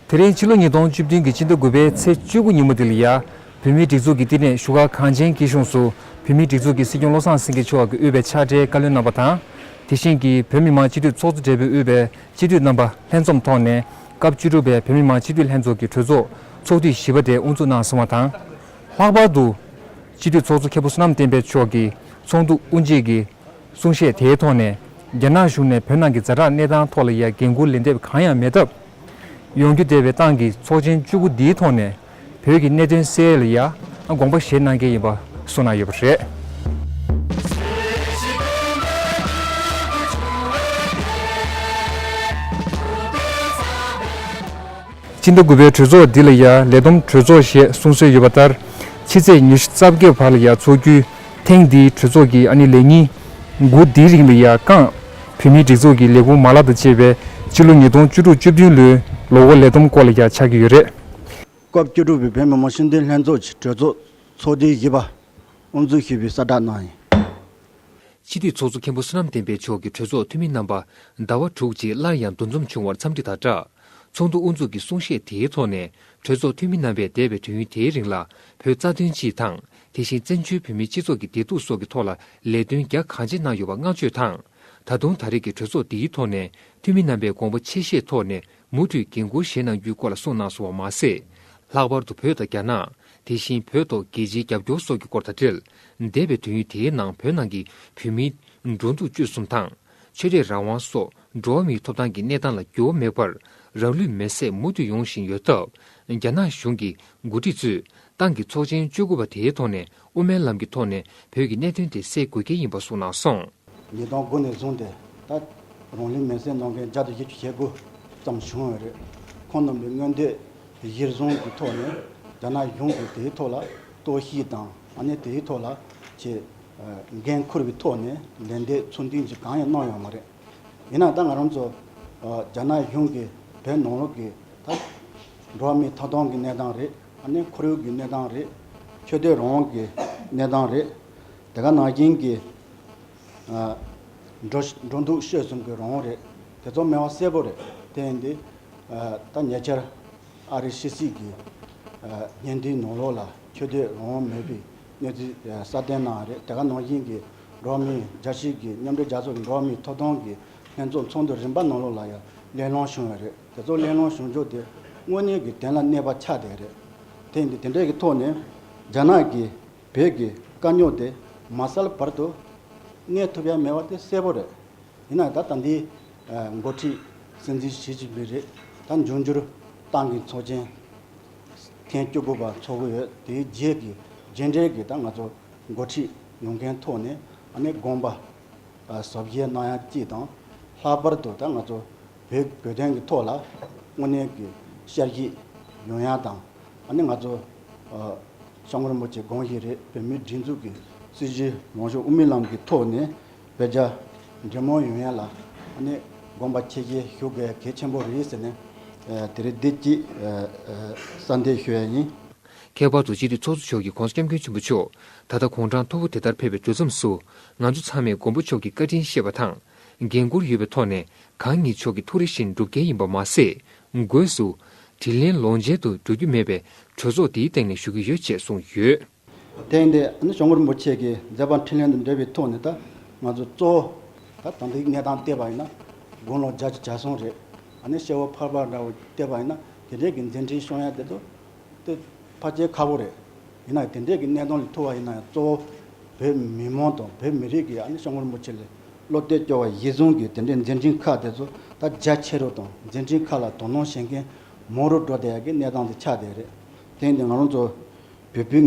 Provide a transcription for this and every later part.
དེ་རིང་ཕྱི་ལོ་ཉིས་སྟོང་བཅུ་བདུན་གྱི་སྤྱི་ཟླ་དགུ་པའི་ཚེས་བཅུ་དགུ་ཉིན་མོ་དེ་ལ་ཡ། བོད་མིའི་སྒྲིག་འཛུགས་ཀྱི་བསྟི་གནས་བཞུགས་སྒར་གངས་ཅན་སྐྱིད་གཤོངས་སུ་བོད་མིའི་སྒྲིག་འཛུགས་ཀྱི་སྲིད་སྐྱོང་བློ་བཟང་སེང་གེ་མཆོག་གིས་དབུས་པའི་ཕྱག་སྦྲེལ་བཀའ་བློན་རྣམ་པ་དང། དེ་བཞིན་གྱི་བོད་མི་མང་སྤྱི་འཐུས་ཚོགས་གཙོ་སྦྲེལ་པོས་དབུས་པའི་སྤྱི་འཐུས་རྣམ་པ་ལྷན་འཛོམས་ཐོག་ནས་སྐབས་བཅུ་དྲུག་པའི་བོད་མི་མང་སྤྱི་འཐུས་ལྷན་ཚོགས་ཀྱི་གྲོས་ཚོགས་ཚོགས་དུས་བཞི་པ་དེ་དབུ་འཛུགས་གནང་སོང་བ་དང། ལྷག་པར་དུ། སྤྱི་འཐུས་ཚོགས་གཙོ་མཁས་པོ་བསོད་ནམས་བསྟན་འཕེལ་མཆོག་གིས་ཚོགས་འདུ་དབུ་འབྱེད་ཀྱི་གསུང་བཤད་དེའི་ཐོག་ནས་རྒྱ་ནག་གཞུང་ནས་བོད་ནང་གི་རྫ་དྲག་གནས་སྟངས་ཐོག་ལ་ཡ་འགན་འཁུར་ལེན་འདེབས་གང་ཡང་མེད་སྟབས། ཡོང་རྒྱུ་བདེ་བའི་ཏང་གི་ཚོགས་ཆེན་བཅུ་དགུ་འདིའི་ཐོག་ནས་བོད་ཀྱི་གནད་དོན་གསལ་ལ་ཡ་དགོངས་པ་བཞེས་གནང་གལ་ཡིན་པ་གསུངས་གནང་ཡོད་པ་རེད། སྤྱི་ཟླ་དགུ་པའི་གྲོས་ཚོགས་འདི་ལ་ཡ་ལེ་དོམ་གྲོས་ཚོགས་ཞེས་གསུང་སྲོལ་ཡོད་པ་ལྟར། ཕྱི་ཚེས་ཉེར་གསབ་བརྒྱད་བར་ལ་ཡ་འཚོགས་རྒྱུ། ཐེངས་འདིའི་གྲོས་ཚོགས་ཀྱི་ཨ་ནི་ལས་ཉིན། དགུ་འདིའི་རིང་ལ་ཡ་རྐང། བོད་མིའི་སྒྲིག་འཛུགས་ཀྱི་ལས་ཁུངས་མ་ལག་དང་བཅས་པའི་སྤྱི་ལོ་ཉིས་སྟོང་བཅུ་དྲུག་བཅུ་བདུན་ལོའི་ལོ་འགོ་ལས་བསྡོམས་སྐོར་ལ་ཡ་ཆགས་ཀྱི་ཡོད་རེད། སྐབས་བཅུ་དྲུག་པའི་བོད་མི་མང་སྤྱི་འཐུས་ལྷན་ཚོགས་ཀྱི་གྲོས་ཚོགས་ཚོགས་དུས་བཞི་པ་དབུ་འཛུགས་ཞུས་པའི་གསལ་བསྒྲགས་གནང་ཡོད། སྤྱི་འཐུས་ཚོགས་གཙོ་མཁན་པོ་བསོད་ནམས་བསྟན་འཕེལ་མཆོག་གིས་གྲོས་ཚོགས་འཐུས་མི་རྣམ་པ་ཟླ་བ་དྲུག་རྗེས་སླར་ཡང་འདུ་འཛོམས་བྱུང་བར་འཚམས་འདྲི་དང་སྦྲགས། ཚོགས་འདུ་དབུ་འཛུགས་ཀྱི་གསུང་བཤད་དེའི་ཐོག་ནས་གྲོས་ཚོགས་འཐུས་མི་རྣམ་པས་འདས་པའི་དུས་ཡུན་དེའི་རིང་ལ་བོད་རྩ་དོན་སྤྱི་དང་དེ་བཞིན་བཙན་བྱོལ་བོད་མིའི་སྤྱི་ཚོགས་ཀྱི་བདེ་སྡུག་སོགས་ཀྱི་ཐོག་ལ་ལས་དོན་རྒྱ་གང་ཆེ་གནང་ཡོད་པ་བསྔགས་བརྗོད་དང། ད་དུང་ད་རེས་ཀྱི་གྲོས་ཚོགས་འདིའི་ཐོག་ནས་འཐུས་མི་རྣམ་པས་དགོངས་པ་ཆེ་བཞེས་ཐོག་ནས་མུ་མཐུད་འགན་འཁུར་བཞེས་གནང་རྒྱུའི་སྐོར་ལ་གསུངས་གནང་སོང་བ་མ་ཟད། ལྷག་པར་དུ་བོད་དང་རྒྱ་ནག་དེ་བཞིན་བོད་ཐོག་རྒྱལ་སྤྱིའི་རྒྱབ་སྐྱོར་སོགས་ཀྱི་སྐོར་དང་འབྲེལ་འདས་པའི་དུས་ཡུན་དེའི་ནང་བོད་ནང་གི་བོད་མིའི་འགྲོ་འདུག་སྤྱོད་གསུམ་དང། ཆོས་དད་རང་དབང་སོགས་འགྲོ་བ་མིའི་ཐོབ་ཐང་གི་གནས་སྟངས་ལ་འགྱུར་བ་མེད་པར་རང་ལུས་མེར་སྲེག་མུ་མཐུད་ཡོང་བཞིན་ཡོད་སྟབས། རྒྱ་ནག་གཞུང་གི་འགོ་ཁྲིད་ཚོས་ཏང་གི་ཚོགས་ཆེན་བཅོ་དགུ་པ་དེའི་ཐོག་ནས་དབུ་མའི་ལམ་གྱི་ཐོག་ནས་བོད་ཀྱི་གནད་དོན་དེ་སེལ་དགོས་གལ་ཡིན་པ་གསུངས་གནང་སོང། ཉིས་སྟོང་དགུ་ནས་བཟུང་སྟེ་ད་ལྟ་རང་ལུས་མེར་སྲེག་གནང་མཁན་བརྒྱ་དང་བཞི་བཅུ་ཞེ་དགུ་ཙམ་བྱུང་བ་རེད། ཁོང་རྣམས་ལ་མངོན་འདོད་གཞིར་བཟུང་གི་ཐོག་ནས་རྒྱ་ནག་གཞུང་གིས་དེའི་ཐོག་ལ་གཏོར་བཤིག་དང་ཨ་ནེ་དེའི་ཐོག་ལ་ཆེས་འགན་འཁུར་བའི་ཐོག་ནས་ལན་འདེབས་ཚོད་འཛིན་གྱི་གང་ཡང་གནང་ཡོད་མ་རེད། ཡིན་ནའང་ད་ང་རང་ཚོ་རྒྱ་ནག་གཞུང་གིས་བོད་ནང་ལོགས་ཀྱི་ད་འགྲོ་བ་མིའི་ཐོབ་ཐང་གི་གནས་སྟངས་རེད་ནས་ཁོར་ཡུག་གི་གནས་སྟངས་རེད། ཆོས་དད་རང་དབང་གི་གནས་སྟངས་རེད། དེ་ག་ནང་བཞིན་གྱི་འགྲོ་འདུག་བཤད་གསུམ་གྱི་རང་དབང་རེད། དེ་ཚོ་སྨྲས་བ་གསལ་པོ་རེད། དེ་ཡིན་དུས་ད་ཉེ་ཆར་ཨ་རིའི་ཕྱི་སྲིད་ཀྱི་བརྙན་འཕྲིན་ནང་ལོགས་ལ་ཆོས་དད་རང་དབང་མེད་པའི། གནས་ཚུལ་གསར་བརྟན་གནང་བ་རེད་དེ་ག་ནང་བཞིན་གྱི་འགྲོ་མིའི་རྒྱ་ཆེའི་གྱི་མཉམ་འབྲེལ་རྒྱལ་ཚོགས་ཀྱི་འགྲོ་མིའི་ཐོབ་ཐང་གི་ལྷན་ཚོགས་ཚོགས་འདུ་རིམ་པ་ནང་ལོགས་ལ་ཡང་གླེང་སློང་བྱུང་བ་རེད་དེ་ཚོ་གླེང་སློང་བྱུང་ཕྱོགས་དེ་དངོས་གནས་ཀྱི་དོན་ལ་གནས་པ་ཆགས་བསྡད་རེད་དེ་འདི་དེ་འདྲས་ཀྱི་ཐོག་ནས་རྒྱ་ནག་གིས་བོད་ཀྱི་དཀའ་རྙོག་དེ་མ་བསལ་བར་དུ་གནས་ཐུབ་ཡ་མེད་པ་དེ་གསལ་པོ་རེད་ཡིན་ན་ད་ད་འདིའི་འགོ་ཁྲིད་སྲིད་འཛིན་ཞི་ཅིན་ཕིན་རེད་ད་འབྱུང་འགྱུར་ཏང་གི་ཚོགས་ཆེན། ཐེངས་བཅུ་དགུ་པ་འཚོགས་ཀྱི་ཡོད། དེའི་རྗེས་ཀྱི་རྗེས་འབྲེལ་གྱི་ད་ང་ཚོ་འགོ་ཁྲིད་ཡོང་མཁན་ཐོག་ནས་དགོངས་པ་ཟབ་རྒྱས་གནང་ཡ་སྐྱིད་དང། ལྷག་པར་དུ་ད་ང་ཚོ་བོད་བོད་དོན་གྱི་ཐོག་ལ་དངོས་གནས་ཀྱི་བཤད་བཞིན་ཡོང་ཡ་དང། ང་ཚོ་ཤངས་རིན་པོ་ཆེ་དགོངས་བཞིན་རེད་བོད་མིའི་སྒྲིག་འཛུགས་ཀྱི་སྲིད་ཇུས་ལོངས་ཤོག་དབུ་མའི་ལམ་གྱི་ཐོག་ནས་བོད་རྒྱ་འབྲེལ་མོ་ཡོང་ཡ་ལ་ནི་དགོངས་པ་ཁྱེད་ཀྱིས་ཞུ་དགོས་གལ་ཆེན་པོ་རེད་ཟེར་ནས་དེ་རིང་བདེ་སྐྱིད་ས་འདེད་ཞུ་ཡ་ཡིན། ཁྱད་པར་དུ་སྤྱི་འཐུས་ཚོགས་གཙོ་མཆོག་གིས་གོང་ས་སྐྱབས་མགོན་ཆེན་པོ་མཆོག་ད་ལྟ་གུང་ཁྲང་མཐོ་བོ་དེ་ལྟར་ཕེབས་པའི་དུས་མཚམས་སུ་ང་ཚོ་ཚང་མས་མགོན་པོ་མཆོག་གི་བཀའ་དྲིན་ཤེས་པ་དང། འགན་ཁུར་ཡོད་པའི་ཐོག་ནས་གང་ཉིད་མཆོག་གི་ཐུགས་རེ་བཞིན་སྒྲུབ་མཁན་ཡིན་པ་མ་ཟད་སྒོས་སུ། དྲིན་ལན་ལོངས་སྤྱད་དུ་འགྲོ་རྒྱུ་མེད་པའི་གྲོས་ཚོགས་འདིའི་སྟེང་ནས་ཞུ་གི་ཡོད་ཅེས་གསུངས་ཡོད། དེང་འདི་ནི་ཞོགས་མགོར་རིན་པོ་ཆེ་གི་མཛད་པ་འཕྲིན་ལན་དང་འབྲེལ་བའི་ཐོག་ནས་ད་ང་ཚོ་གཙོ་བོ་ད་ད་འདི་གནས་སྟངས་བལྟས་པ་ཡིན་ན་དགུང་ལོ་བརྒྱ་ཆ་བརྒྱ་སོང་རེད། ད་ནི་ཤེ་བོ་ཕར་པ་འདྲ་བོ་བལྟས་པ་ཡིན་ན་དེ་འདྲས་ཀྱི་མཛད་འཕྲིན་ཤོང་ཡ་དེ་ཚོ་དེ་ཕ་ཇེ་ཁག་པོ་རེད། ཡིན་ན་དེ་འདྲས་ཀྱི་གནས་སྟངས་ལས་ཐུག་བ་ཡིན་ན་ཡང་གཙོ་བོ་བོད་མི་མང་དང་བོད་མི་རིགས་ཀྱིས་ཞོགས་མགོར་རིན་པོ་ཆེ་ལས་བློ་གཏད་སྐྱོ་བ་གཞི་བཟུང་གིས་དེ་འདྲས་མཛད་འཕྲིན་ཁག་དེ་ཚོ་ད་རྒྱ་ཆེ་རུ་དང་མཛད་འཕྲིན་ཁག་ལ་དོ་སྣང་བྱེད་མཁན་མང་རུ་འགྲོ་བསྡད་ཡ་གི་གནས་སྟངས་དེ་ཆགས་བསྡད་རེད། དེང་འདི་ང་རང་ཚོ། བོད་པའི་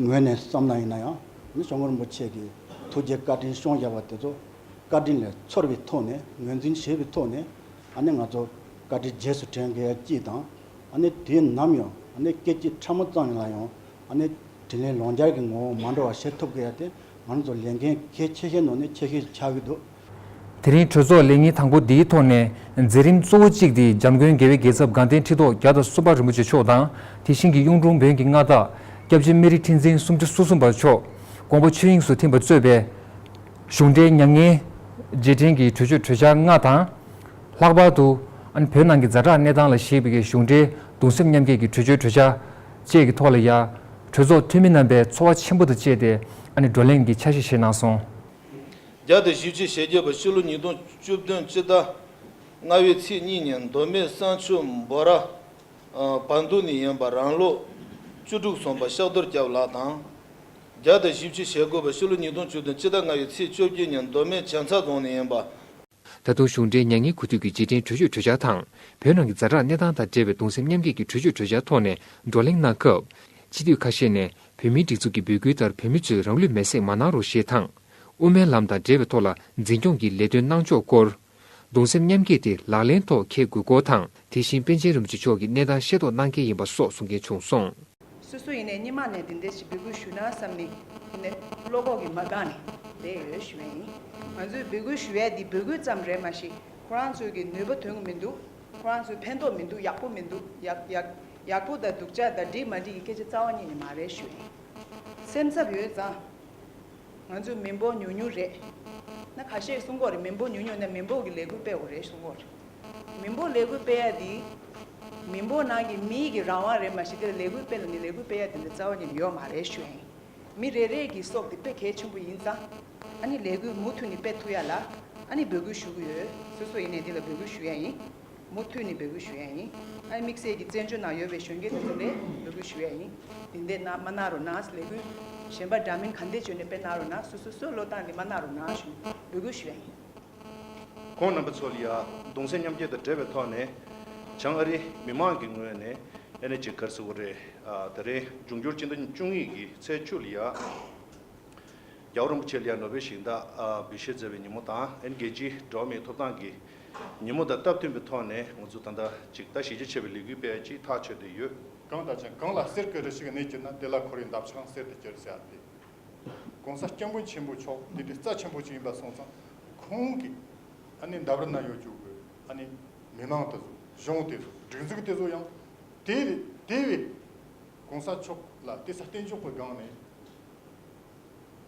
ངོས་ནས་བསམ་ན་ཡིན་ན་ཡང་མི་གསོད་ངོར་འབུ་ཆེ་གི་ཐུགས་རྗེ་བཀའ་དྲིན་ཤོང་བཞག་པ་དེ་ཚོ་བཀའ་དྲིན་ལས་ཚོར་བའི་ཐོག་ནས་ངོས་འཛིན་བྱེད་པའི་ཐོག་ནས་ཨ་ནི་ང་ཚོ་བཀའ་དྲིན་རྗེས་སུ་དྲན་དགོས་ཡ་སྐྱིད་དང་ཨ་ནི་དུས་ནམ་ཡང་ཨ་ནི་སྐད་ཅིག་ཕྲ་མོ་ཙམ་ལ་ཡང་ཨ་ནི་དྲིན་ལན་ལོང་སྦྱར་གི་ངོ་བོ་མ་འགྲོ་བ་བྱེད་ཐུབ་དགོས་ཡ་དེ་ང་ཚོ་ལས་འགན་གལ་ཆེ་ཤས་ནང་ནས་ཆེ་ཤོས་ཆགས་ཀྱི་འདུག། དེ་རིང་གྲོས་ཚོགས་ལས་ཉིན་དང་པོ་འདིའི་ཐོག་ནས་མཛད་རིམ་གཙོ་བོ་གཅིག་སྟེ་འཇམ་མགོན་རྒྱལ་བའི་རྒྱལ་ཚབ་དགའ་ལྡན་ཁྲི་ཐོག་བརྒྱ་དང་གསུམ་པ་རིན་པོ་ཆེ་མཆོག་དང་དེ་བཞིན་གྱི་གཡུང་དྲུང་བོན་གྱི་མངའ་བདག། སྐྱབས་རྗེ་སྨན་རི་ཁྲི་འཛིན་སུམ་ཁྲི་སོ་གསུམ་པ་མཆོག་དགོངས་པ་ཆོས་དབྱིངས་སུ་ཐིམ་པར་གཙོས་པའི། གཞུང་འབྲེལ་མྱ་ངན། རྗེས་དྲན་གྱི་གྲོས་ཆོད་གྲོས་འཆར་ལྔ་དང། ལྷག་པར་དུ། བོད་ནང་གི་རྫ་བྲག་གནས་སྟངས་ལ་གཞིགས་པའི་གཞུང་འབྲེལ་གདུང་སེམས་མཉམ་སྐྱེད་ཀྱི་གྲོས་ཆོད་གྲོས་འཆར་བཅས་ཀྱི་ཐོག་ལ་ཡང། གྲོས་ཚོགས་འཐུས་མི་རྣམ་པས་ཚོར་བ་ཆེན་པོ་དང་བཅས་ཏེ་བགྲོ་གླེང་གི་འཆར་གཞི་བཞེས་གནང་སོང། བརྒྱ་དང་བཞི་བཅུ་ཞེ་བརྒྱད་པ་ཕྱི་ལོ་ཉིས་སྟོང་བཅུ་བདུན་སྤྱི་ཟླ་ལྔ་བའི་ཚེས་གཉིས་ཉིན་མདོ་སྨད་བསང་ཆུ་འབོ་ར་བ་འདུ་ནི་ཡན་པ་རང་ལོ་བཅུ་དྲུག་སོན་པ་ཤག་རྡོར་སྐྱབས་ལགས་དང། བརྒྱ་དང་བཞི་བཅུ་ཞེ་དགུ་པ་ཕྱི་ལོ་ཉིས་སྟོང་བཅུ་བདུན་སྤྱི་ཟླ་ལྔ་བའི་ཚེས་བཅོ་བརྒྱད་ཉིན་མདོ་སྨད་བྱང་ཚ་རྫོང་ནི་ཡན་པ། ད་དུང་གཞུང་འབྲེལ་མྱ་ངན་གུས་འདུད་ཀྱི་རྗེས་དྲན་གྲོས་ཆོད་གྲོས་འཆར་དང་བོད་ནང་གི་རྫ་དྲག་གནས་སྟངས་དང་འབྲེལ་བའི་གདུང་སེམས་མཉམ་སྐྱེད་ཀྱི་གྲོས་ཆོད་གྲོས་འཆར་ཐོག་ནས་བགྲོ་གླེང་གནང་སྐབས། སྤྱི་འཐུས་ཁ་ཤས་ནས་བོད་མིའི་སྒྲིག་འཛུགས་ཀྱི་འབོད་སྐུལ་ལྟར་བོད་མི་ཚོས་རང་ལུས་མེར་སྲེག་མ་གནང་རོགས་ཞེས་དང། དབུ་མའི་ལམ་དང་འབྲེལ་བའི་ཐོག་ལ་འཛིན་སྐྱོང་གི་ལས་དོན་གནང་ཕྱོགས་སྐོར། གདུང་སེམས་མཉམ་སྐྱེད་དེ་ལག་ལེན་ཐོག་འཁེལ་དགོས་སྐོར་དང། དེ་བཞིན་པཎ་ཆེན་རིན་པོ་ཆེ་མཆོག་གིས་གནས་སྟངས་ཤེས་རྟོགས་གནང་གལ་ཡིན་པ་སོགས་གསུང་མཁན་བྱུང་སོང། སོ་སོ་ཡིན་ནས་སྙིང་མ་ནས་དེ་འདྲས་ཞིག་འབོད་སྐུལ་ཞུ་ན་བསམ་ནས་ཡིན་ནས་བློ་ཁོག་གིས་མ་འགག་ནས་བསྡད་ཡོད་ཞུ་བས་ཡིན། ང་ཚོས་འབོད་སྐུལ་ཞུ་ཡས་འདི་འབོད་སྐུལ་ཙམ་རེད་མ་གཞི་ཁོ་རང་ཚོས་ཀྱི་ནུས་པ་དོན་གི་མི་འདུག་ཁོ་རང་ཚོས་ཕན་ཐོག་མི་འདུག་ཡག་པོ་མི་འདུག་ཡག་ཡག་ཡག་པོ་དང་སྡུག་ཅག་དང་འགྲིག་མ་འགྲིག་གི་སྐད་ཆ་རྩ་བ་ཉིད་ནས་མ་རེད་ཞུ་བས་ཡིན། སེམས་འཚབ་ཡོད་ཙང། ང་ཚོས་མི་འབོག་ཉུང་ཉུང་རེད། ན་ག་ཤེད་གསུང་གོ་རེད་མི་འབོག་ཉུང་ཉུང་ན་མི་འབོག་གི་ལས་འགུལ་སྤེལ་འོ་རེད་གསུང་གོ་རེད། མི་འབོག་ལས་འགུལ་སྤེལ་ཡ་དེ། མི་འབོག་ནང་གི་མི་ཡིག་གི་རང་དབང་རེད་མ་གཞི་དེར་ལས་འགུལ་སྤེལ་ལ་ནི་ལས་འགུལ་སྤེལ་ཡ་དེ་འདྲ་རྩ་བ་ནས་ཡོད་མ་རེད་ཞུ་ཨེ། མི་རེ་རེ་གི་སྲོག་དེ་དཔེ་གལ་ཆེན་པོ་ཡིན་ཙང། ཨ་ནི་ལས་འགུལ་མུ་མཐུད་ནི་སྤེལ་ཐུབ་ཡ་ལ། ཨ་ནི་འབོད་སྐུལ་ཞུ་གི་ཡོད་སོ་སོ་ཡིན་ནས་དེ་ལ་འབོད་སྐུལ་ཞུ་ཡ་ཡིན། མུ་མཐུད་ནས་འབོད་སྐུལ་ཞུ་ཡས་ཡིན། ཨའི་དམིགས་བསལ་གྱི་བཙན་བྱོལ་ནང་ཡོད་པའི་གཞོན་སྐྱེས་ལྷན་ཚོགས་ལས་འབོད་སྐུལ་ཞུ་ཡས་ཡིན། དེ་འདས་ན་མ་ན་རོ་ནགས་ལས་འགུལ། གཞན་པ་འདྲ་མིན་གང་འདས་བྱོན་ནས་དཔེར་ན་རོ་ནགས་སུ་སོ་སོའི་བློ་བཏང་གི་མ་ན་རོ་ནགས་ཞུ་འབོད་སྐུལ་ཞུ་ཡས་ཡིན། ཁོང་རྣམ་པ་ཚོ་ལ་ཡང་གདུང་སེམས་མཉམ་སྐྱེད་དང་འབྲེལ་བའི་ཐོག་ནས་བྱང་ཨ་རིའི་མི་མང་གི་ངོས་ནས་ཨེ་ནེ་ཇེ་ཀར་སི་ཝུ་རེ་ད་རེའི་འབྱུང་འགྱུར་སྤྱི་ཟླ་བཅུ་གཉིས་ཀྱི་ཚེས་བཅུ་ལ་ཡང་རྒྱ་བོད་རིན་པོ་ཆེ་ལ་ཡང་ནོ་བེལ་ཞིང་བདག་འབུལ་བཞེས་མཛད་པའི་ཉིན་མོ་དང་ཨེ་ནེ་རྒྱལ་སྤྱིའི་འགྲོ་བ་མིའི་ཐོབ་ཐང་གི་ཉིན་མོ་དང་སྟབས་མཐུན་པའི་ཐོག་ནས་ང་ཚོས་ད་ལྟ་ཅིག་ལྟ་ཞིབ་ཆ་ཆེ་བའི་ལས་འགུལ་སྤེལ་ཅིག་ཐག་ཆོད་དེ་ཡོད། གང་དང་ཅི་གང་ལ་གསེར་སྐད་རེ་ཞིག་གནས་གྱུར་ན་དེ་ལ་ཁོ་རེའི་འདབ་ཆགས་གསེར་དུ་གྱུར་ཟེར་ཏེ། གོང་ས་སྐྱབས་མགོན་ཆེན་པོ་མཆོག་འདི་འདྲའི་རྩ་ཆེན་པོ་ཞིག་ཡིན་པ་སོང་ཙང་ཁོང་གིས་ཨ་ནི་འདབ་ར་ན་ཡོད་རྒྱུགས་དགོས་ཨ་ནི་མི་མང་དེ་ཚོ་གཞུང་དེ་ཚོ་སྒྲིག་འཛུགས་དེ་ཚོ་ཡང་དེ་རེད་དེ་བས། གོང་ས་མཆོག་ལ་དེ་ས་བརྟན་འཇོག་གི་སྒང་ནས་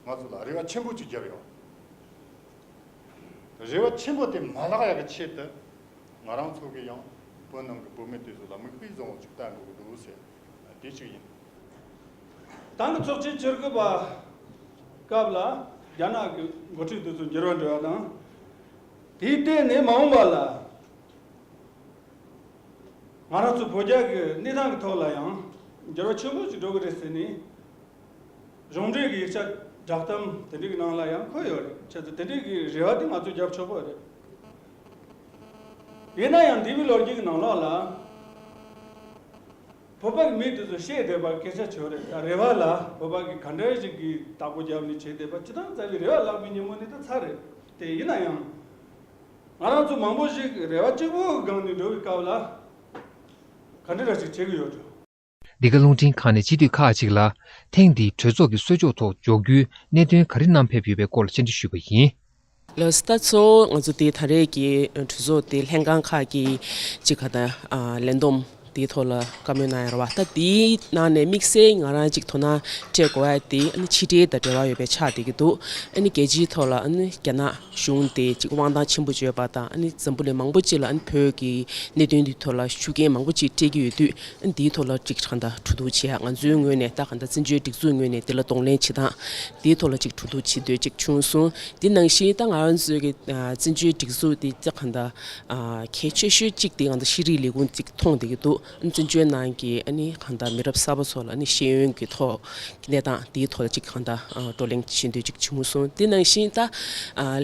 ང་ཚོ་ལ་རེ་བ་ཆེན་པོ་ཅིག་རྒྱབ་ཡོང། རེ་བ་ཆེན་པོ་དེ་མ་ལགས་ཡག་གི་ཆེད་དུ་ང་རང་ཚོ་གི་ཡང་བོད་ནང་གི་བོད་མི་དེ་ཚོ་ལ་མིག་དཔེ་བཟང་བོ་ཅིག་བལྟ་དགོས་ཀྱི་འདུག་ཟེར་ན་དེ་ཅིག་ཡིན། ཏང་གི་ཚོགས་ཆེན་ཕྱིར་འཁོད་པ་སྐབས་ལ་རྒྱ་ནག་གི་འགོ་ཁྲིད་དེ་ཚོ་འགྱུར་བ་འགྲོ་བ་དང། དེའི་སྟེང་ནས་མ་འོངས་པ་ལ་ང་རང་ཚོ་བོད་རྒྱ་གི་གནས་སྟངས་ཀྱི་ཐོག་ལ་ཡང་འགྱུར་བ་ཆེན་པོ་ཞིག་འགྲོ་གི་རེད་ཟེར་ནས། གཞུང་འབྲེལ་གྱི་ཡིག་ཆ་བསྒྲགས་གཏམ་དེ་འབྲེལ་གྱི་ནང་ལ་ཡང་འཁོད་ཡོད་རེད་ཁྱེད་ཚོ་དེ་འབྲེལ་གྱི་རེ་བ་དེ་ང་ཚོས་རྒྱབ་ཆོག་པོ་རེད། ཡིན་ན་ཡང་འདི་བའི་ལོ་རྒྱུས་ཀྱི་ནང་ལོགས་ལ། བོད་པ་གྱི་མི་དེ་ཚོ་ཤེས་བསྡད་པར་སྐད་ཆ་བྱོས་རེད་ད་རེ་བ་ལ་བོད་པ་གྱི་ག་འདྲ་ཞིག་གིས་བདག་པོ་རྒྱབ་ནས་བྱས་བསྡད་པ་ཇི་ལྟར་མཛའ་བའི་རེ་བ་བརླག་པའི་ཉིན་མོ་ནི་ད་ཚར་རེད་དེ་ཡིན་ན་ཡང། ང་རང་ཚོ་མང་པོ་ཞིག་རེ་བ་གཅིག་པོའི་སྒང་ནས་འགྲོ་བའི་སྐབས་ལ། ག་འདྲ་འདྲ་ཞིག་བྱེད་ཀྱི་ཡོད་དོ། འདི་ག་རླུང་འཕྲིན་ཁང་ནས་སྤྱི་འཐུས་ཁག་ཅིག་ལ་ཐེངས་འདིའི་གྲོས་ཚོགས་ཀྱི་གསོལ་ལྕོག་ཐོག་འཇོག་རྒྱུའི་གནད་དོན་ག་རེ་བསྣམས་ཕེབས་ཡོད་པའི་སྐོར་ལ་བཅར་འདྲི་ཞུས་པ་ཡིན། ལོ་ཙཱ་གཙོ་བོ་ང་ཚོ་དེ་ད་རེས་ཀྱི་གྲོས་ཚོགས་དེ་ལྷན་ཁང་ཁག་གི་ཅི་ག་དང་ལེན་འདོམས་དེའི་ཐོག་ལ་བཀའ་མོལ་གནང་ཡ་རོ་བ་ད་དེའི་ནང་ནས་དམིགས་བསལ་ང་རང་ཅིག་དོ་སྣང་སྤྲད་དགོས་བ་དེ་ཨ་ནི་ཕྱི་འབྲེལ་དང་འབྲེལ་བ་ཡོད་པའི་ཆགས་བསྡད་ཀྱི་འདུག་ཨ་ནི་རྒྱལ་སྤྱིའི་ཐོག་ལ་ཨ་ནི་རྒྱ་ནག། གཞུང་དེས་དབང་ཐང་ཆེན་པོ་སྤྱོད་པ་དང་འཛམ་བུ་ལས་མང་པོ་ཅིག་ལ་བོད་ཀྱི་གནད་དོན་འདིའི་ཐོག་ལ་ཤུགས་རྐྱེན་མང་པོ་ཅིག་སྤྲད་ཀྱི་ཡོད་དུས་འདིའི་ཐོག་ལ་ཅིག་དྲང་བདག་གྲོས་བསྡུར་བྱེད་ཡ་ང་ཚོའི་ངོས་ནས་ད་ག་ཟླ་བཙན་བྱོལ་སྒྲིག་འཛུགས་ངོས་ནས་འདི་ལ་གདོང་ལེན་བྱེད་སྟངས་འདིའི་ཐོག་ལ་ཅིག་གྲོས་བསྡུར་བྱེད་འདོད་ཅིག་བྱུང་སོང་འདི་ནང་བཞིན་ད་ང་ཚོའི་གི་བཙན་བྱོལ་སྒྲིག་འཛུགས་འདི་ད་ག་ཟླ་གལ་ཆེ་ཤོས་ཅིག་དེ་ང་ཚོ་ཤེས་རིག་ལས་ཁུངས་ཅིག་མཐོང་བསྡད་ཀྱི་འདུག། བཙན་བྱོལ་ནང་གི་གང་ལྟར་མི་རབས་གསར་པ་ཚོ་ལ་ཤེས་ཡོན་གྱི་ཐོག་གི་གནས་སྟངས་དེའི་ཐོག་ལ་གཅིག་གང་ལྟར་བགྲོ་གླེང་བྱེད་འདོད་ཅིག་བྱུང་མུས་སོང་དེ་ནང་བཞིན་ད་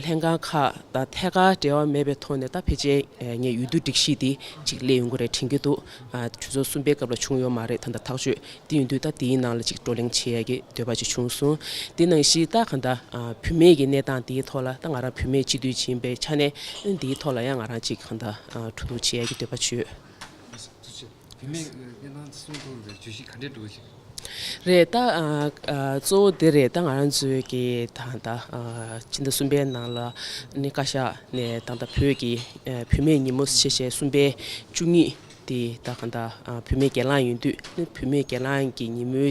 ལྷན་ཁང་ཁག་དང་ཐད་ཀར་འབྲེལ་བ་མེད་པའི་ཐོག་ནས་ད་ཕལ་ཆེར་ངས་ཡུལ་དུ་སྒྲིག་གཞི་དེ་གཅིག་སླེབས་ཡོང་གི་རེད་དྲན་གྱི་འདུག་གྲོས་ཚོགས་གསུམ་པའི་སྐབས་ལ་བྱུང་ཡོད་མ་རེད་ད་ལྟ་ཐག་གཅོད་དེ་ཡིན་དུས་ད་དེའི་ནང་ལ་གཅིག་བགྲོ་གླེང་བྱེད་ཡ་གི་འདོད་པ་ཅིག་བྱུང་སོང་དེ་ནང་བཞིན་ད་གང་ལྟར་བུད་མེད་ཀྱི་གནས་སྟངས་དེའི་ཐོག་ལ་ད་ང་རང་བུད་མེད་སྤྱི་འཐུས་ཡིན་པའི་ཆ་ནས་དེའི་ཐོག་ལ་ཡང་ང་རང་གཅིག་གང་ལྟར་ཕྲུ་གུ་བྱེད་ཡ་གི་འདོད་པ་བྱོས། རེད་ད། གཙོ་བོ་དེ་རེད་ད་ང་རང་ཚོའི་གི་ད་ད་ཕྱི་ཟླ་གསུམ་པའི་ནང་ལ་ནི་བཀའ་ཤག་ནས་ད་ད་བོད་ཀྱི་བུད་མེད་ཉིན་མོ་ཞེས་བཤད་གསུམ་པའི་བཅུ་གཉིས་དེ་ད་ག་ད་བུད་མེད་སྒེར་ལངས་ཡིན་དུས་བུད་མེད་སྒེར་ལངས་ཀྱི་ཉིན་མོའི་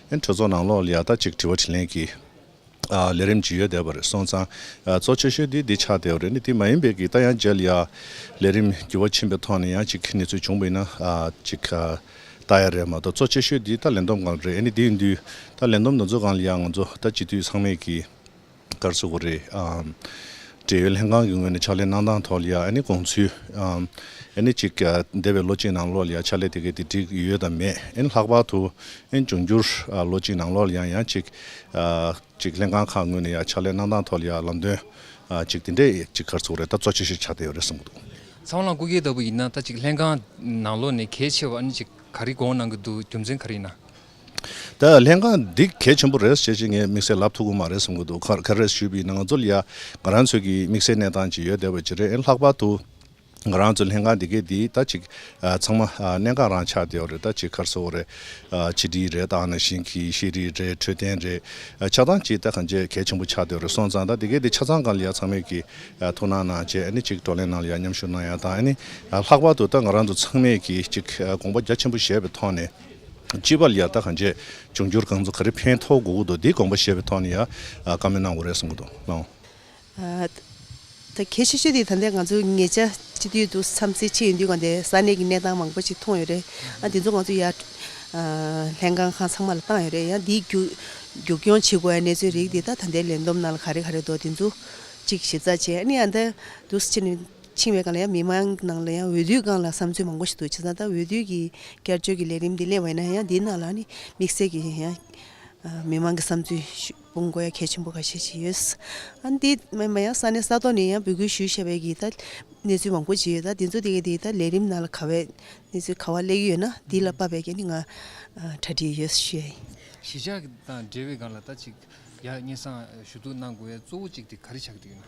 གྲོས་ཚོགས་ནང་ལོག་ལྷེ་ཡག་ཐ་གཅིག་དྲི་བ་དྲིས་ལན་གྱི་ལས་རིམ་ཇི་ཡོད་བསྡད་པ་རེད་སོང་ཙང་གཙོ་ཆེ་ཤོས་དེ་འདི་ཆགས་བསྡད་པ་རེད་ནི་དེ་མ་ཡིན་པའི་གི་ད་ཡང་འཇལ་ཡག་ལས་རིམ་འགྱུར་བ་ཕྱིན་པའི་ཐོག་ནས་ཡང་གཅིག་ནི་ཚོད་བྱུང་བ་ཡིན་ན་གཅིག་ལྟ་ཡག་རེད་མ་གཏོགས་གཙོ་ཆེ་ཤོས་དེ་ད་ལན་འདོམས་གང་རེད་ཨེ་ནི་དེ་ཡིན་དུས་ད་ལན་འདོམས་དང་ཚོད་གང་ལ་ཡག་ང་ཚོ་ད་སྤྱི་འཐུས་ཚང་མས་གི། ལྟར་བཟོ་དགོས་རེད། འབྲེལ་ཡོད་ལྷན་ཁང་གི་ངོས་ནས་ཕྱག་ལས་གནང་སྟངས་ཐོག་ལ་ཡང་དགོངས་ཚུལ། གཅིག་འདས་པའི་ལོ་གཅིག་ནང་ལོགས་ལ་ཡང་ཕྱག་ལས་དེ་གའི་དེ་བསྒྲིགས་ཡོད་དམ་མེད། ལྷག་པར་དུ་འབྱུང་འགྱུར་ལོ་གཅིག་ནང་ལོགས་ལ་ཡང་ཡང་གཅིག་ལྷན་ཁང་ཁག་ངོས་ནས་ཡང་ཕྱག་ལས་གནང་སྟངས་ཐོག་ལ་ཡང་ལམ་སྟོན་གཅིག་དེ་འདྲས་གཅིག་ཁར་བཟོ་དགོས་རེད་ལྟ་གཙོ་ཆེ་ཤོས་ཆགས་བསྡད་ཡོད་རེད་གསུངས་འདུག། ཚང་ལ་སྐུ་སྒེར་ལྟ་བུ་ཡིན་ན་ད་གཅིག་ལྷན་ཁང་ནང་ལོགས་ནས་གལ་ཆེ་བ་གཅིག་ག་རེ་དགོངས་གནང་གི་འདུག་རྒྱུ་མཚན་ག་རེ་ཡིན་ན། ད་ལྷན་ཁང་འདི་གལ་ཆེན་པོ་རེད་ཅེས་ཅི་ངས་དམིགས་བསལ་ལབ་ཐུབ་ཀྱི་མ་རེད་བསམ་གྱི་འདུག་ག་རེ་ཞུས་པའི་ནང་ཚུལ་ཡང་ང་རང་ཚོས་ཀྱིས་དམིགས་བསལ་གནས་སྟངས་ཅིག་ཡོད་བསྡད་པ་ཅི་རེད་ལྷག་པར་དུ་ང་རང་ཚོའི་ལྷན་ཁང་འདི་གའི་འདིའི་ད་ཅིག་ཚང་མ་གནད་འགག་རང་ཆགས་བསྡད་ཡོད་རེད་ད་ཅིག་ཁར་སོ་རེད་ཕྱི་དྲིལ་རེད་ད་ནང་བཞིན་གྱི་ཤེས་རིག་རེད་འཕྲོད་བསྟེན་རེད་ཆགས་སྟངས་ཅིག་ད་གང་ཅི་གལ་ཆེན་པོ་ཆགས་བསྡད་ཡོད་རེད་སོང་ཙང་ད་འདི་གའི་འདི་ཆ་ཚང་གང་ལ་ཡང་ཚང་མས་ཀྱིས་ཐུགས་སྣང་གནང་ཅེས་ནི་ཅིག་བགྲོ་གླེང་ནང་ལ་ཡང་མཉམ་ཞུགས་གནང་ཡང་ད་ནི་ལྷག་པར་དུ་ད་ང་རང་ཚོ་ཚང་མས་ཀྱིས་ཅིག་དགོངས་པ་རྒྱ་ཆེན་པོ་བཞེས་པའི་ཐོག་ནས། སྤྱི་པ་ལ་ཡར་ལྟ་གང་བྱས་འབྱུང་འགྱུར་གང་ཚུགས་ག་རེ་ཕན་ཐོགས་དགོས་ཀྱི་འདུག་འདིའི་དགོངས་པ་བཞེས་པའི་ཐོག་ནས་ཡང་བཀའ་མོལ་གནང་དགོས་རེད་གསུང་གི་འདུག་གནང། ད་གལ་ཆེ་ཤོས་དེ་ད་ལྟའི་ང་ཚོ་ངེད་ཅག་སྤྱི་འཐུས་དུ་བསམ་ཚེ་ཆེ་ཡིན་དུས་གང་དེ་ས་གནས་ཀྱི་གནས་སྟངས་མང་པོ་ཞིག་མཐོང་ཡོད་རེད་ཨ་དེ་ཚོ་ང་ཚོ་ཡར་ལྷན་ཁང་ཁང་ཚང་མ་ལ་བཏང་ཡོད་རེད་ཡང་འདིའི་རྒྱུགས་སྐྱོང་བྱེད་དགོས་ཡ་གནས་ཚུལ་རིགས་འདི་ད་ད་ལྟའི་ལས་བསྡོམས་ནང་ལ་ག་རེ་ག་རེ་འདུག་དེ་ཚོ་གཅིག་ཞིབ་ཚགས་བྱས་ཨ་ནི་ཡང་ད་དུས་ཆེ་ནས། ཕྱིང་བའི་སྒང་ལ་ཡང་མི་དམངས་ནང་ལ་ཡང་འོས་བསྡུའི་སྒང་ལ་བསམ་ཚུལ་མང་པོ་ཞིག་འདུག་བྱས་ཙང་ད་འོས་བསྡུ་གི་བསྐྱར་བཅོས་ཀྱི་ལས་རིམ་འདི་གླེང་བ་ཡིན་ན་ཡང་འདིའི་ནང་ལ་ནི་དམིགས་བསལ་གྱི་ཡང་མི་དམངས་ཀྱི་བསམ་ཚུལ་སྤུངས་དགོས་ཡ་གལ་ཆེན་པོ་ག་ཤེད་ཅིག་ཡོད། ཨ་འདི་སྨན་པ་ཡང་ས་གནས་ས་ཐོག་ནས་ཡང་འབོད་སྐུལ་ཞུས་ཤེས་པའི་གི་ད་གནས་ཚུལ་མང་པོ་ཅིག་ཡོད་ད་འདི་ཚོ་དེ་གི་ད་ལས་རིམ་ནང་ལ་ག་བའི་གནས་ཚུལ་ག་བ་གླེགས་ཡོད་ན་འདི་ལ་དཔག་པའི་གི་ནི་ང་གྲ་སྒྲིག་ཡོད་ཤེས། གཞིས་ཆགས་དང་འབྲེལ་བའི་སྒང་ལ་ད་ཅིག་ཡག་སྙན་སང་ཞུ་གཏུགས་གནང་དགོས་ཡ་གཙོ་བོ་ཅིག་དེ་ག་རེ་ཆགས་ཀྱི་ཡོད་ན།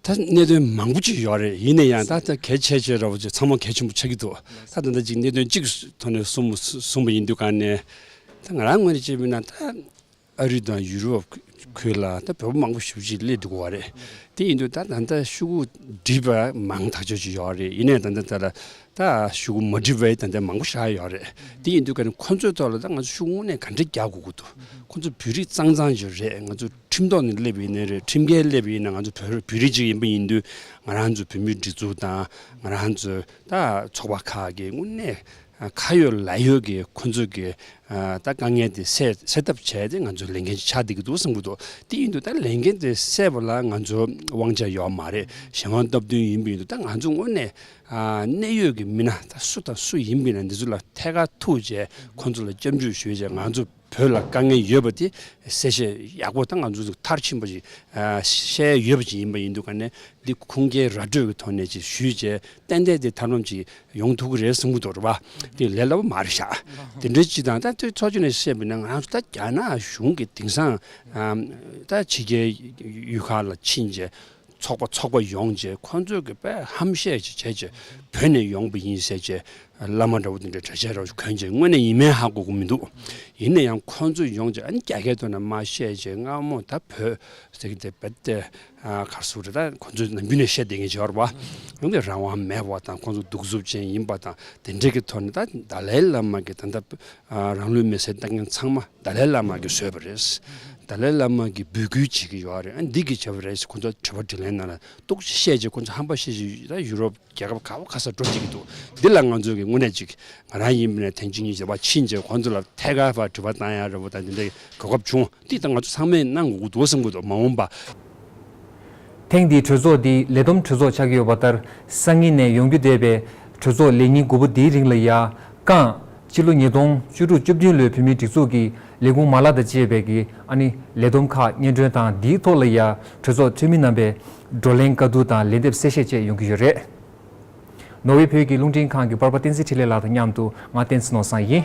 ད་གནད་དོན་མང་པོ་ཅིག་ཡོད་རེད་ཡིན་ན་ཡང་ད་ལྟ་གལ་ཆེ་ཆེ་རོགས་ཚང་མ་གལ་ཆེན་པོ་ཆགས་ཀྱི་འདུག་ད་ད་ལྟ་གཅིག་གནད་དོན་གཅིག་གི་ཐོག་ནས་གསུམ་གསུངས་པ་ཡིན་དུས་གང་ནས་ད་ང་རང་དངོས་ནས་བྱས་མིན་ན་ད་ཨ་རི་དང་ཡུ་རོབ་ཁུལ་ལ་ད་བོད་པོ་མང་པོ་བཞུགས་ཀྱི་སླེབས་འདུག་བ་རེད་དེ་ཡིན་དུས་ད་ད་ལྟ་ཤུ་གུ་སྒྲིབ་པ་མང་ཐག་ཆོད་ཅིག་ཡོད་རེད་ཡིན་ན་ཡང་ད་ལྟ་ད་ཤུ་གུ་མ་སྒྲིབ་པའི་ད་ལྟ་མང་པོ་ཤར་ཡོད་རེད་དེ་ཡིན་དུས་ཁོང་ཚོའི་ཐོག་ལ་ད་ང་ཚོ་ཤུགས་དངོས་ནས་ག་འདྲེ་རྒྱག་དགོས་ཀྱི་འདུག་ཁོང་ཚོ་བོད་རིགས་གཙང་གཙང་ཅིག་རེད་ང་ཚོ། ཁྲིམས་ཐོག་ནས་སླེབས་ཡིན་ནི་རེད་ཁྲིམས་འགལ་སླེབས་ཡིན་ན་ང་ཚོ་བོད་བོད་རིགས་ཅིག་ཡིན་པ་ཡིན་དུས་ང་རང་ཚོ་བོད་མིའི་སྒྲིག་འཛུགས་དང་ང་རང་ཚོ་ད་ཚོགས་པ་ཁག་གི་དངོས་གནས་ཁ་ཡོད་ལག་ཡོད་ཀྱི་ཁོ་ཚོ་གི་ད་དཀའ་ངལ་དེ་སེལ་སེལ་ཐབས་བྱས་ཏེ་ང་ཚོ་ལས་འགན་ཅིག་ཆགས་བསྡད་ཀྱི་འདུག་བསམ་གྱི་འདུག་དེ་ཡིན་དུས་ད་ལས་འགན་དེ་སེལ་བ་ལ་ང་ཚོ་དབང་ཆ་ཡོད་མ་རེད་གཞན་དབང་སྟབས་བསྟུན་ཡིན་པ་ཡིན་དུས་ད་ང་ཚོ་དངོས་གནས་གནད་ཡོད་ཀྱི་མི་སྣ་ད་སུ་དང་སུ་ཡིན་པ་ཡིན་ན་འདི་ཚོ་ལ་ཐད་ཀར་ཐུག་རྗེས་ཁོ་ཚོ་ལ་སྐྱབས་འཇུག་ཞུས་རྗེས་ང་ཚོ། བོད་ལ་དཀའ་ངལ་ཡོད་པ་དེ་གསལ་བཤད་ཡག་པོ་དང་ང་ཚོ་མཐར་ཕྱིན་པ་ཞིག་བཤད་ཡོད་པ་ཞིག་ཡིན་པ་ཡིན་འདུག་ག་ནས་འདི་ཁུངས་སྐྱེལ་ར་སྤྲོད་ཀྱི་ཐོག་ནས་ཅིག་ཞུས་རྗེས་ཏན་ཏན་དེ་ཐ་ནོམ་ཅིག་ཡོང་ཐུབ་ཀྱི་རེད་གསུང་གི་འདུག་རེད་བ། དེ་ལས་སླ་པོ་མ་རེད་ཤག་དེ་འདྲའི་སྤྱི་དང་ད་ཚོགས་ཆུང་ནས་བཤད་པས་ན་ང་ཚོ་ད་རྒྱ་ནག་གཞུང་གི་དེང་སང་ད་ཕྱི་རྒྱལ་ཡུལ་ཁག་ལ་ཕྱིན་རྗེས་ཚོགས་པ་ཚོགས་པ་ཡོང་རྗེས་ཁོ་ཚོས་ཀྱི་པས་ཧམ་བཤད་ཅིག་བྱས་རྗེས་བོད་ནས་ཡོང་པ་ཡིན་ཟེར་རྗེས་བླ་མ་འདྲ་བོ་དེ་འདྲ་གྲྭ་ཆས་རོགས་གྱོན་རྗེས་དངོས་ནས་ཡིན་མིན་ཧ་གོ་གི་མི་འདུག་ཡིན་ན་ཡང་ཁོ་ཚོ་ཡོང་རྗེས་ཨ་ནི་རྒྱ་སྐད་ཐོག་ནས་མ་བཤད་རྗེས་སྔ་མོ་ད་བོད་ཟེར་གྱི་དེ་བེད་སྟེ་གར་སོང་རེད་ད་ཁོ་ཚོས་ནམ་རྒྱུན་ནས་བཤད་བསྡད་མཁན་བྱས་བར་བ་ཡོང་གི་རང་དབང་མེད་བ་དང་ཁོ་ཚོ་གདུག་རྩུབ་ཅན་ཡིན་པ་དང་དེ་འདྲས་ཀྱི་ཐོག་ནས་ད་ད་ལའི་བླ་མ་གྱི་ད་ལྟ་རང་ལུས་མེ་སྲེག་བཏང་མཁན་ཚང་མ། ཏཱ་ལའི་བླ་མ་གིས་བཟོས་པ་རེད། ཏཱ་ལའི་བླ་མ་གིས་འབོད་སྐུལ་བྱེད་ཀྱི་ཡོད་རེད། འདི་གིས་བྱས་པ་རེད་ཅེས་ཁོ་ཚོར་དྲི་བ་དྲིས་ལན་གནང་ལ་སྟུག་ཅིག་བཤད་རྗེས་ཁོ་ཚོ་ཧམ་པ་བཤད་བཞིན་ཡོད་ན་ཡུ་རོབ་རྒྱལ་ཁབ་ག་བ་ག་སར་འགྲོ་བསྡད་ཀྱི་འདུག་འདི་ལ་ང་ཚོས་དངོས་གནས་ཅིག་ང་རང་ཡིན་པ་ནས་ཐེངས་གཅིག་གཉིས་བྱས་པ་ཕྱིན་ཆད་ཁོ་ཚོ་ལ་ཐད་ཀར་བར་དྲི་བ་གཏང་ཡ་རེད་བོ་ད་འདི་འདྲའི་གོ་སྐབས་བྱུང་འདི་ད་ང་ཚོ་ཚང་མས་གནང་དགོས་ཀྱི་འདུག་བསམ་གྱི་འདུག་མ་འོངས་པ་ཐེངས་འདིའི་གྲོས་ཚོགས་འདི་ལས་བསྡོམས་གྲོས་ཚོགས་ཆགས་ཀྱི་ཡོད་པ་ལྟར་སང་ཉིན་ནས་ཡོང་རྒྱུ་འདས་པའི་གྲོས་ཚོགས་ལས་ཉིན་དགུ་པོ་འདིའི་རིང་ལ་ཡ། ཀང། སྤྱི་ལོ་ཉིས་སྟོང་བཅུ་དྲུག་བཅུ་བདུན་ལོའི་བོད་མིའི་སྒྲིག་འཛུགས་ཀྱི་ལས་ཁུངས་མ་ལག་དང་བཅས་པའི་ཀི་ཨ་ནི་ལས་བསྡོམས་ཁག་སྙན་སྒྲོན་དང་འདིའི་ཐོག་ལ་ཡ། གྲོས་ཚོགས་འཐུས་མི་རྣམ་པས་བགྲོ་གླེང་བཀའ་བསྡུར་དང་ལན་འདེབས་གསལ་བཤད་བཅས་ཡོང་གི་ཡོད་རེད། ནོར་ཝེ་བོད་ཀྱི་རླུང་འཕྲིན་ཁང་གི་པར་པ་བསྟན་འཛིན་འཕྲིན་ལས་ལགས་དང་མཉམ་དུ་ང་བསྟན་འཛིན་ནོར་བཟང་ཡིན།